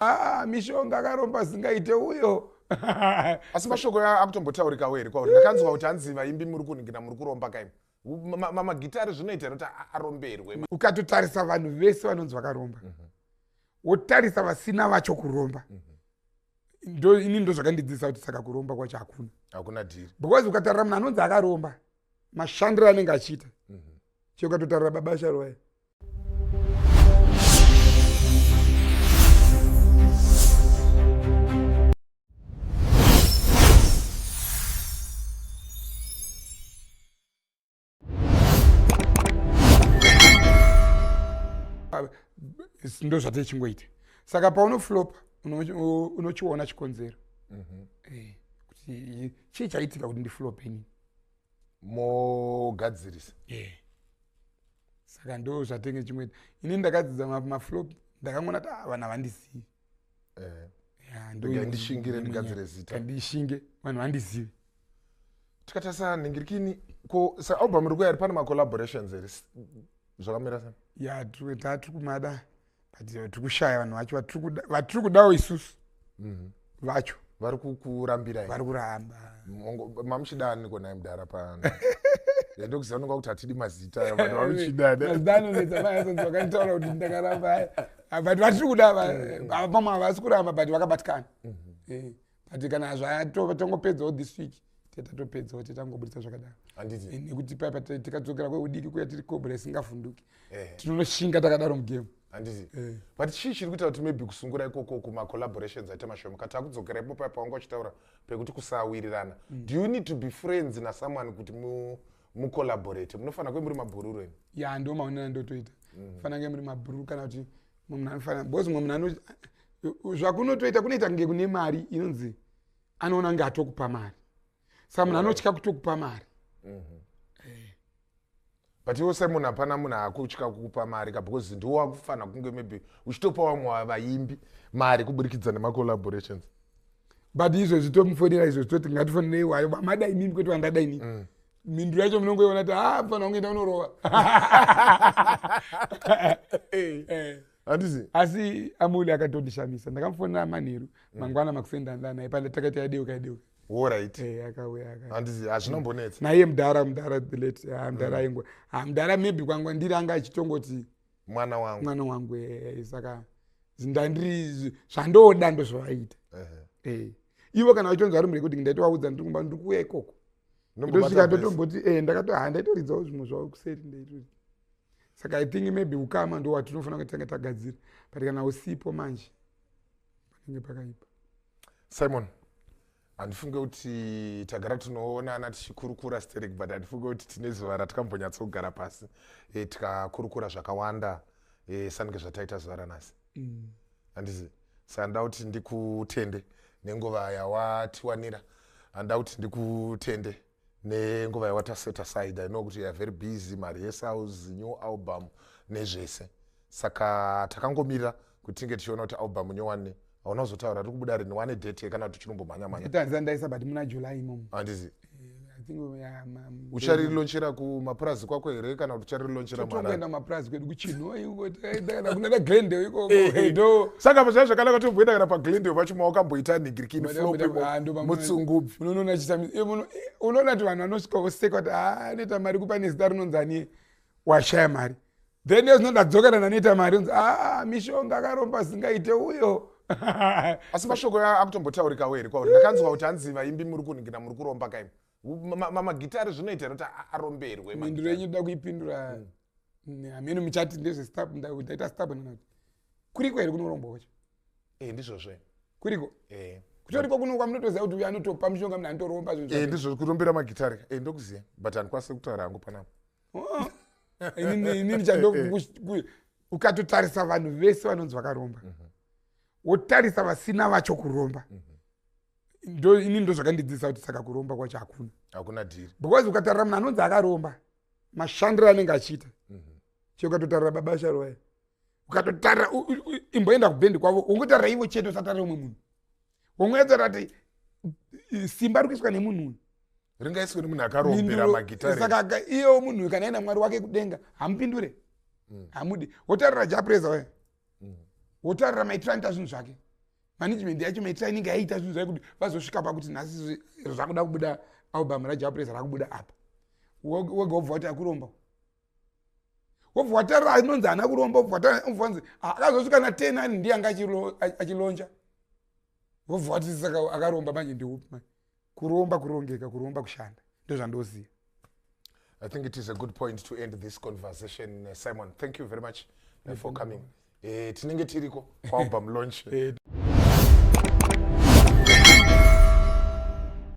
ah, mishonga akaromba zingaite uyo asi mashoko akutombotaurikawo here kwauri ndakanzwa kuti hanzi vaimbi muri kunhingina muri kuromba kaimo magitari zvinoita here kuti aromberwe ukatotarisa vanhu vese vanonzi vakaromba mhm. wotarisa vasina vacho kuromba mhm. ndo ini ndo zvakandidzidzisa kuti saka kuromba kwacho hakuna hakuna dhiri because ukatarira munhu anonzi akaromba mashandiro anenge achiita mhm. che ukatotarira baba sharoya ndozvatichingoita saka paunoflopa unochiona chikonzero mhm. eh, kuti chii chaitika kuti ndiflope inini mogadzirisa eh. saka ndo zvatenge chimwe ini ndakadzidza maflop ndakangonati ah, vanhu havandizivi eh. ndishingire ndigadzire zita ndishinge vanhu vandizivi tikatarisa nhingirikini ko saalbum iri kuya ri pane macollaborations here zvakamira sei ya tatiri kumada but eh, tiri kushaya vanhu vacho vatiri kudawo isusu mhm. vacho vari kurambirai vari kuramba mamuchida aniko naye mudhara pano ndokuziva nonga kuti hatidi mazita vanhu vamuchidaanozitavakaitaura kuti ndakaramba but vatiri kuda vamwe havasi kuramba but vakabatikana mhm. eh. but kana zvatongopedzawo this week tatopedzawo tatangobudisa zvakadaro nekuti paipa tikadzokera kweudiki kuya tiri cobra isingavhunduki eh. tinonoshinga takadaro mugame handiti eh. but chii chiri kuita kuti maybe kusungura ikoko kumacollaborations aita mashoma kati akudzokera ipo paipa wanga uchitaura pekuti kusawirirana mm. do you need to be friends nasomeone kuti mucollaborate munofanira kuve muri mabhururu imi ya ndo maonera ndotoita mm. fanira kunge muri mabhururu kana kuti munhu anofanira because mumwe munhu anoti zvakunotoita kunoita kunge kune mari inonzi anoona kunge atokupa mari saka munhu anotya kutokupa mari mhm. eh. but iwo semunhu hapana munhu akutya kukupa mari ka because ndiwo wakufanira kunge maybe uchitopa vamwe vavaimbi mari kuburikidza nemacollaborations but izvozvi tomufonera izvozvi toti ngatifonere iwayo vamada imimi kwete vandada inii mm. mhinduro yacho munongoiona ti haa ah, fana kunge ndaunorova eh. eh. handizi asi amuli akatondishamisa ndakamufonera manheru mm. mangwana makusendandanai panda takaita yadeuka yadeuka orit eh, akauya handizi hazvinombonetsa naiye mudhara mudhara the late ah, mudhara mm. aingwa ah, mudhara maybe kwangwa ndiri anga achitongoti mwana wangu mwana wangu eh, saka ndandiri zvandoda ndozvavaita eh. ivo kana vachonzi vari murekodi ndaitovaudza ndiri kumba ndiri kuuya ikoko ndosvika ndotomboti eh, ndakatoha ndaitoridzawo zvimwe zvavo kuseri ndaitoti saka i think maybe ukama ndo watinofanira kuti tanga tagadzira but kana usipo manje panenge pakaipa simon handifunge kuti tagara tinoonana tichikurukura sterek but handifunge kuti tine zuva ratikambonyatsogara pasi e, tikakurukura zvakawanda e, sange zvataita zuva ranhasi mm. handizi sandida kuti ndikutende nenguva yawatiwanira handida kuti ndikutende nenguva yawataset aside i know kuti youare very busy marehesaus new album nezvese saka takangomirira kuti tinge tichiona kuti album nyowani hauna kuzotaura tiri kubuda rini wane date ye kana kuti tichirombomhanyamhanyaandaisa but muna july imomo handizi eh, ucharilonchera kumapurazi kwako here kana kuti ucharilonchera mwana kuenda kumapurazi kwedu kuchinoi saka pazvaa zvakanaka tomboenda kana paglendale pacho ma wakamboita nigirikini mutsungubvi unoona kuti vanhu vanosvika voseka kuti anoita mari kupa nezita rinonzi anie washaya mari then ezvinoda dzokana nanoita mari onzi a mishonga akaromba zingaite uyo asi mashoko akutombotaurikawo here kwauri ndakanzwa kuti hanzi vaimbi muri kuningira muri kuromba kaimo magitare zvinoita kuti aromberwe mhinduro yenyu ndoda kuipindura hmm. hameno muchati ndezvestaita stabnanati kuriko here kunorombwa kwacho e ndizvozve kuriko e kutoriko kuno kwamunotoziva kuti uyo anotopa mushonga mna anotoromba e ndizvo kurombera magitare e ndokuziva but handikwanise kutaura hangu panapa oh. inini ndichado ukatotarisa vanhu vese vanonzi vakaromba mhm. wotarisa vasina vacho kuromba mhm. ndo ini ndo zvakandidzidzisa kuti saka kuromba kwacho hakuna hakuna dhiri because ukatarira munhu anonzi akaromba mashandiro anenge achiita mhm. che ukatotarira baba sharoya ukatotarira imboenda kubhendi kwavo ungotarira ivo chete usatarira umwe munhu ungoedzera ti simba ri kuiswa nemunhu uyu ringaiswe nemunhu akarombera magitarisaka iyo munhu uyu kana aina mwari wake kudenga hamupindure mm. hamudi wotarira japreza waya mm. wotarira maitiranoita zvinhu zvake management yacho maitira inenge yaita zvinhu zvayo kuti vazosvika pakuti nhasi zvakuda kubuda album rajapresa rakubuda apa wega wobva wati akuromba wobva watarira anonzi haana kuromba wobva watariraonzi ah, akazosvika na ten ani ndiye anga achilonja wobva wati saka akaromba manje ndiupi manje kuromba kurongeka kuromba kushanda ndozvandoziva i think it is a good point to end this conversation uh, simon thank you very much uh, for coming eh, tinenge tiriko kwalbum launch eh,